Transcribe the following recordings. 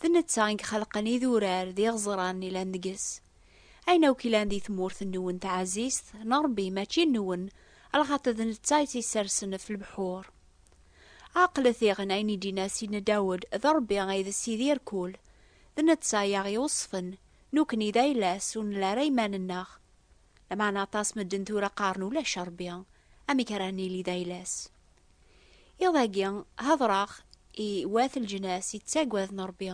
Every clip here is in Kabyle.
D netta i ixelqen idurar d iɣeẓran ilan deg-s. Ayen akk ilan di tmurt nwen taɛzizt n Rebbi mačči nwen, lxaṭer d netta i tt-issersen ɣef lebḥur. Ɛeqlet diɣen ayen i d-inna Sidna Dawed, D Rebbi ay d Sidi rkul, d netta i aɣ-iweṣṣfen, nekkni d ayla-s ur nelli ara iman-nneɣ. Lameɛna aṭas n medden tura qqaren ulac Rebbi, amek ara nili d ayla-s? Iḍ-agi, hedreɣ i wat leǧnas yettaggaden Ṛebbi,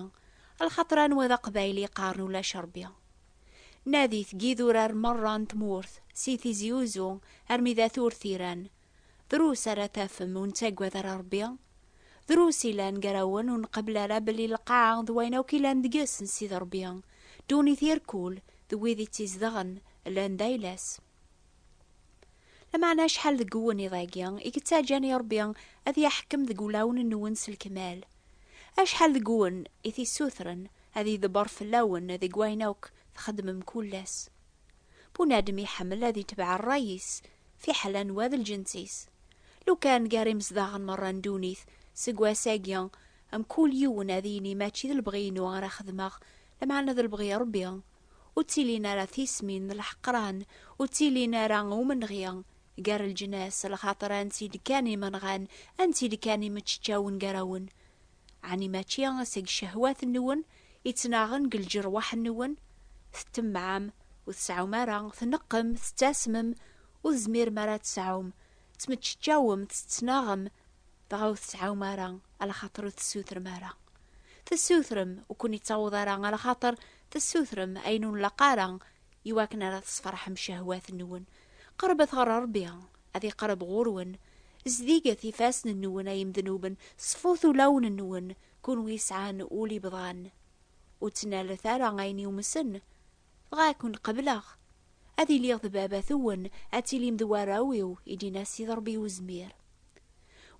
lxaṭer anwa d Aqbayli yeqqaren ulac Ṛebbi. Nadit deg yidurar merra n tmurt, si Tizi Uzzu armi d at Urtiran, drus ara tafem ur nettaggad ara Ṛebbi, drus ilan gar-awen ur nqebbel ara belli lqaɛa d wayen akk ilan deg-s n Sidi Ṛebbi, ddunit irkul d wid i tt-izedɣen llan d ayla-s. Lameɛna acḥal deg uwennid-agi i yettaǧǧan i Ṛebbi ad yaḥkem deg wulawen-nwen s lekmal? Acḥal deg wen i t-issutren ad idebber fell-awen deg wayen akk txeddmem kul ass? Bunadem iḥemmel ad itbeɛ ṛṛay-is, fiḥel anwa d lǧens-is. Lukan gar imezdaɣen meṛṛa n ddunit seg wass-agi, mkul yiwen ad yini mačči d lebɣi-inu ara xedmeɣ, lameɛna d lebɣi Ṛebbi. ur ttilin ara tismin n lḥeqran, ur ttilin ara umenɣi gar leǧnas, lxaṭer anti-d kan imenɣan, anti-d kan imeččeččawen gar-awen? Ɛni mačči seg cehwat-nwen ittnaɣen deg lǧerwaḥ-nwen? Tettemmaɛem, ur tseɛɛum ara, tneqqem, tettasmem, ur tezmirem ara ad tesɛum, tmeččeččawem, tettnaɣem, dɣa ur tseɛɛum ara, lxaṭer ur tessutrem ara. Tessutrem, ur ken-ittaweḍ ara lxaṭer, tessutrem ayen ur nlaq ara iwakken ara tesferḥem cehwat-nwen. Qerbet ɣer Ṛebbi, ad iqerreb ɣur-wen. Zdiget ifassen-nwen ay imednuben, ṣfut ulawen-nwen, kunwi yesɛan ul ibḍan. Ur ttnalet ara ayen yumsen, dɣa ad ken-qebleɣ. Ad iliɣ d baba-twen, ad tilim d warraw-iw, i d-yenna Ssid Ṛebbi Uzmir.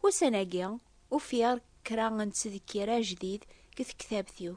Ussan-agi, ufiɣ kra n ttdekkir ajdid deg tektabt-iw.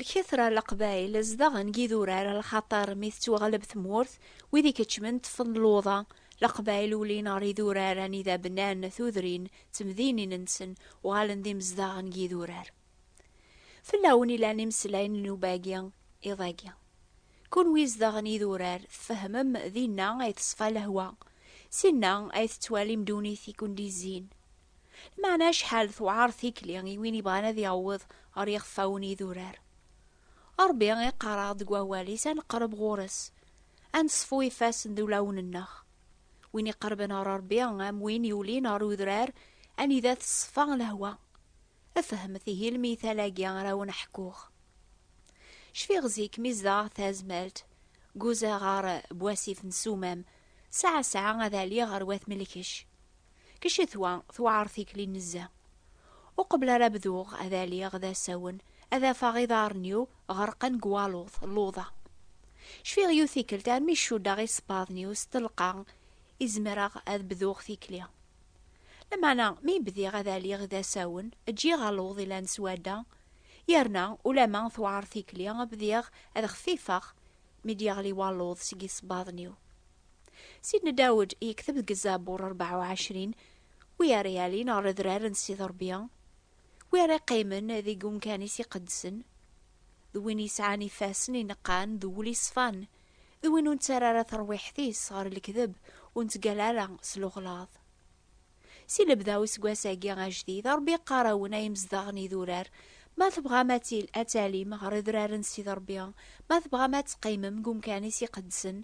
Lkitra n Leqbayel zdaɣen deg idurar lxaṭer mi tettwaɣleb tmurt, wid ikeččmen ṭṭfen luḍa. Leqbayel ulin ɣer idurar anida bnan tudrin d temdinin-nsen, uɣalen d imezdaɣ n yidurar. Fell-awen i lan imeslayen n nnuba-agi, iḍ-agi. Kunwi izdaɣen idurar, tfehmem dinna ay teṣfa lehwa, sinna ay tettwalim ddunit i ken-d-izzin. Lmeɛna acḥal tewɛer tikli i win ibɣan ad yaweḍ ɣer yixeffawen n yidurar. Ṛebbi iqqar-aɣ-d deg Wawal-is ad neqreb ɣur-s, ad neṣfu ifassen d ulawen-nneɣ. Win iqerben ɣer Ṛebbi am win yulin ɣer udrar anida teṣfa lehwa. Fehmet ihi lmithal-agi ara wen-ḥkuɣ. Cfiɣ zik mi zedɣeɣ tazmalt, guzaɣ ɣer Bwasif n Sumam, sɛa sɛa ad aliɣ ɣer Wat Melkec. Ccetwa tewɛer tikli nezzeh. Ur qebleɣ ara bduɣ ad aliɣ d asawen, ad afeɣ iḍarren-iw ɣerqen deg waluḍ, luḍa. Cfiɣ yiwet tikkelt armi cuddeɣ isebbaḍen-iw s telqa i zemreɣ ad bduɣ tikli. Lameɛna mi bdiɣ ad aliɣ d asawen, ǧǧiɣ aluḍ ilan s wadda, yerna ulamma tewɛer tikli, bdiɣ ad xfifeɣ mi d-yeɣli waluḍ seg isebbaḍen-iw. Sidna Dawed yekteb deg Zabur rebɛa u ɛecrin, Wi ara yalin ɣer Adrar n Ssid Ṛebbi, wi ara yeqqimen deg umkan-is iqedsen, d win yesɛan ifassen ineqqan d wul iṣfan, d win ur nettara ara terwiḥt-is ɣer lekdeb, ur nettgalla ara s lexlaḍ. Si lebda useggas-agi ajdid, Rebbi yeqqar-awen ay imezdaɣ n yidurar, ma tebɣam ad talim ɣer Idrar n Ssid Rebbi, ma tebɣam ad teqqimem deg umkan-is iqedsen,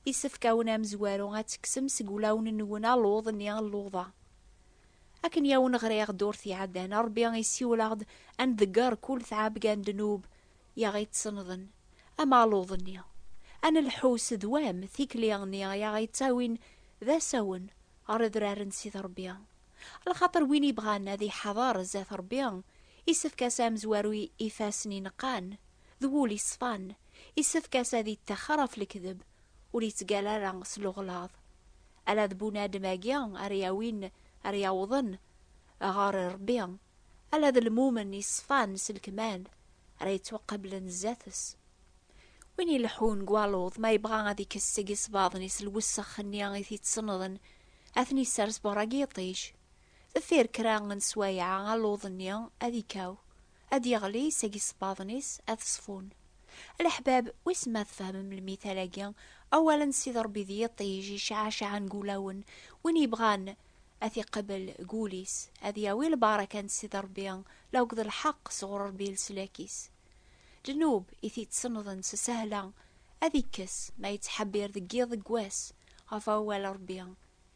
yessefk-awen amezwaru ad tekksem seg wulawen-nwen aluḍ-nni n luḍa. Akken yawen ɣriɣ durt iɛeddan, Rebbi isiwel-aɣ-d ad nḍegger kul tɛebga n ddnub i aɣ-ittsenḍen, am aluḍ-nni. Ad nelḥu s ddwam tikli-nni i aɣ-ittawin d asawen ɣer Adrar n Sidi Rebbi. Lxaṭer win ibɣan ad iḥader zdat Rebbi, isefk-as amezwaru i ifassen ineqqan, d wul iṣfan, isefk-as ad ittaxer ɣef lekdeb ur yettgal ara s lewɣlaḍ, ala d bunadem-agi ara yawin, ara yawḍen ɣer Rebbi, ala d lmumen yeṣfan s lekmal ara yettwaqablen zdat-s. Win ileḥḥun deg waluḍ, ma yebɣa ad ikkes seg isbaḍen-is lwessex-nni i t-ittennḍen, ad ten-isers beṛṛa deg yiṭij. Deffir kra n sswayeɛ, aluḍ-nni ad ikkaw, ad yeɣli seg isebbaḍen-is ad ṣfun. A leḥbab, wissen ma tfehmem lmital-agi, awal n Sidi Ṛebbi d yiṭij iceɛceɛen g ulawen, win yebɣan ad t-iqebel g wul-is, ad yawi lbaraka n Sidi Ṛebbi la akked lḥeqq sɣur Ṛebbi leslak-is. Ddnub i t-ittsenḍen s sahla ad ikkes ma yettḥebbir deg yiḍ deg wass ɣef awal n Ṛebbi.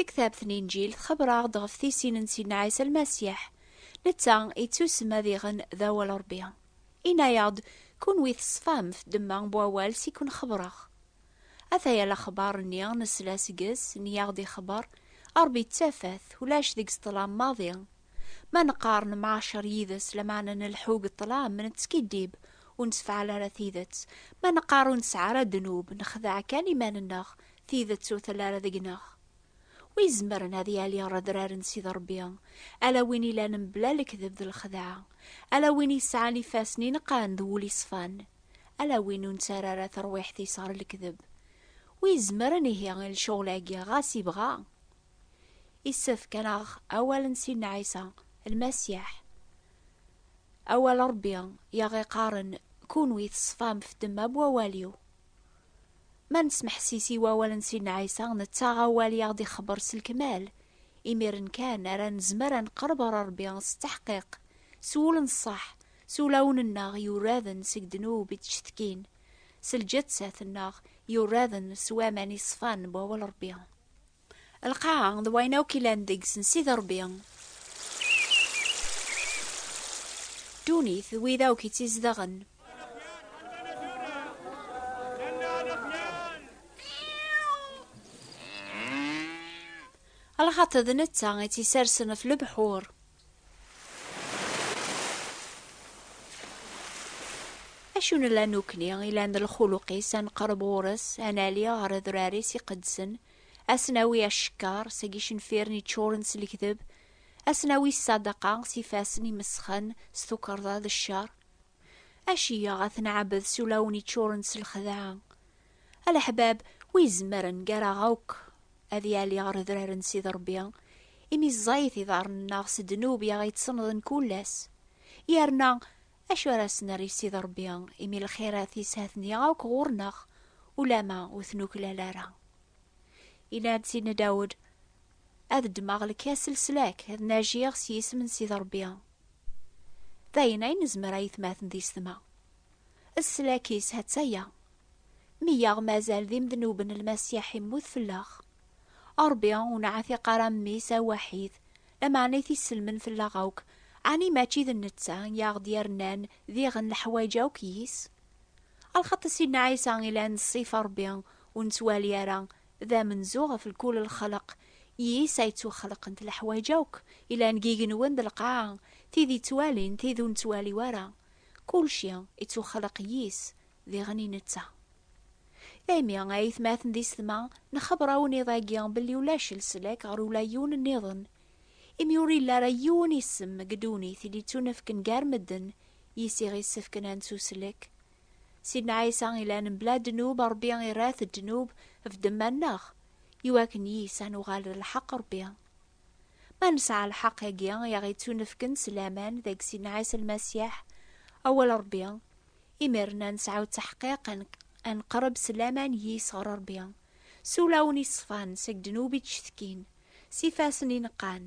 Taktabt n Inǧil txebber-aɣ-d ɣef tisin n Sidna Ɛisa Lmasiḥ. Netta yettusem ad iɣen d awal Ṛebbi. Inna-aɣ-d, Kunwi teṣfam f ddemma n wawal s i ken-xebbreɣ. Ataya lexbar-nni nesla seg-s, nni-aɣ-d ixebber, Ṛebbi d tafat, ulac deg-s ṭṭlam maḍi. Ma neqqar nemɛacer yid-s lameɛna nelḥu deg ṭṭlam, nettskiddib, ur nessefɛal ara tidet. Ma neqqar ur nesɛi ara ddnub, nexdeɛ kan iman-nneɣ, tidet ur telli ara deg-neɣ. Wi izemren ad yali redrar n Sidi Ṛebbi? Ala win ilan mebla lekdeb d lexdeɛ. Ala win yesɛan ifassen ineqqen d wul iṣfan. Ala win ur nettara ara terwiḥt-is ɣer lekdeb. Wi izemren ihi i lecɣel-agi, ɣas ibɣa? Issefk ad naɣ awal n Sidna Ɛisa, Lmasiḥ. Awal n Ṛebbi i aɣ-iqqaren, Kunwi teṣfam ɣef ddemma n wawal-iw. Ma nesmeḥsis i wawal n Sidna Ɛisa, nettaɣ awal i aɣ-d-ixebbeṛ s lekmal. Imiren kan ara nezmer ad neqreb ɣer Ṛebbi s tteḥqiq, s wul n ṣṣeḥ, s ulawen-nneɣ yuraden seg ddnub i d-ttcetkin, s lǧettat-nneɣ yuraden s waman iṣfan n wawal n Ṛebbi. Lqaɛa d wayen akk ilan deg-s n Sidi Rebbi. Ddunit d wid akk itt-izedɣen. Lxaṭi d netta itt-isersen ɣef lebḥur. Acu nella nukni i lan d lxuluq-is, ad neqreb ɣur-s, ad nali ɣer adrar-is iqedsen, ad s-nawi acekkar seg icenfiren yeččuren s lekdeb, ad s-nawi ssadaqa s ifassen imesxen s tukerḍa d ccer? Aci-yaɣ ad t-nɛebbed s ulawen yeččuren s lexdaɛa? Aleḥbab, wi izemren gar-aɣ akk ad yali ɣer udrar n Sidi Rebbi, imi ẓẓayit iḍarren-nneɣ s ddnub i aɣ-ittennḍen kul ass. Yerna, acu ara as-nerr i Sidi Rebbi, imi lxirat-is ha-ten-i akk ɣur-neɣ, ulamma ur t-nuklal ara? Yenna-d Sidna Dawed, Ad ddmeɣ lkas n leslak, ad najiɣ s yisem n Sidi Rebbi. D ayen ay nezmer a yetmaten d isetma. Sslak-is hattaya. Mi yaɣ mazal d imednuben Lmasiḥ immut fell-aɣ. Ṛebbi ur neɛtiq ara Mmi-s awaḥid, lameɛna i t-isselmen fell-aɣ akk, ɛni mačči d netta i aɣ-d-yernan diɣen leḥwayeǧ akk yis? A lxaṭ a Sidna Ɛisa i la neṣṣif Ṛebbi ur nettwali ara d amenzu ɣef lkul lexleq yis ay ttwaxleqent leḥwayeǧ akk yellan deg yigenwen d lqaɛa, tid yettwalin, tid ur nettwali wara, Kulci ittuxleq yis, diɣen i netta. Daymi, a aytmaten d isetma, nxebber-awen iḍ-agi belli ulac leslak ɣer ula yiwen nniḍen, imi ur yelli ara yiwen isem deg ddunit i d-ittunefken gar medden yis i ɣ-issefken ad nettuslek. Sidna Ɛisa ilan mebla ddnub, Rebbi irra-t ddnub ɣef ddemma-nneɣ, iwakken yis ad nuɣal d lḥeqq Rebbi. Ma nesɛa lḥeqq-agi i aɣ-ittunefken s laman deg Sidna Ɛisa Lmasiḥ, Awal Ṛebbi, imir-n ad nesɛu ttaḥqiq ad neqreb s laman yis ɣer Ṛebbi, s ulawen iṣefan seg ddnub i d-cetkin, s ifassen ineqqan,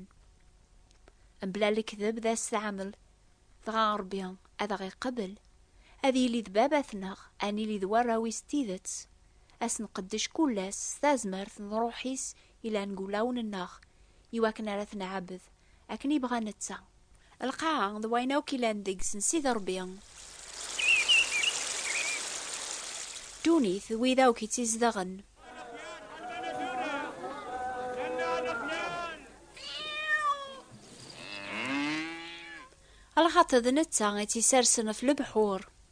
mebla lekdeb d asetɛamel, dɣa Ṛebbi ad aɣ-iqebbel, ad yili d Babat-neɣ, ad nili d warraw-is n tidet, ad s-nqeddec kul ass s tazmert n Ṛṛuḥ-is Yella deg wulawen-nneɣ i wakken ara t-nɛabed akken yebɣa netta. Lqaɛa d wayen akk yellan deg-s n Sidi Rebbi. Ddunit d wid akk itt-izedɣen. Lxaṭi d netta i tt-isersen ɣef lebḥur.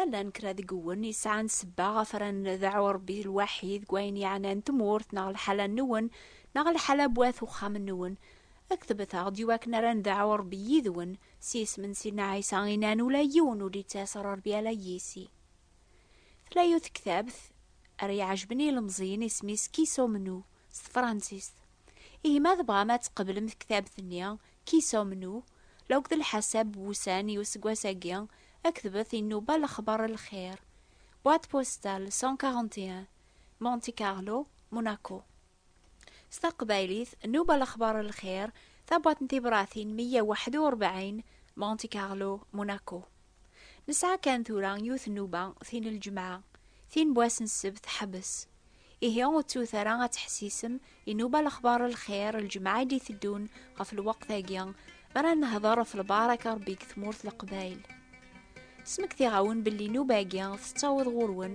ma llan kra deg wen yesɛan sebba ɣef ara ndeɛɛu Rebbi lwaḥid deg wayen yeɛnan tmurt neɣ lḥala nwen neɣ lḥala n wat uxxam nwen ktbet-aɣ-d i wakken ara ndeɛɛu Rebbi yid-wen s yisem n Sidna Ɛisa i nan ula yiwen ur d-yettas ɣer Rebbi ala yis-i. Tella yiwet tektabt ara iɛejben i yilemẓiyen isem-is Qui sommes-nous s tefransist. Ihi ma tebɣam ad tqeblem tektabt-nni Qui sommes-nous la akked lḥasab n wussan i useggas-agi, ktbet i nnuba Lexbar n lxir, boîte postale 141, Monte-Carlo, Monaco. s taqbaylit Nuba lexbar n lxir tabwaḍt n tibṛatin 141 Monte Carlo Monaco Nesɛa kan tura yiwet nnuba tin n lǧemɛa tin n wass n ssebt teḥbes ihi ur ttut ara ad teḥsisem i Nuba lexbar n lxir lǧemɛa i d-iteddun ɣef lweqt-agi mi ara nehder ɣef lbaṛaka Ṛebbi deg tmurt Leqbayel Smektiɣ-awen belli nnuba-agi tettaweḍ ɣur-wen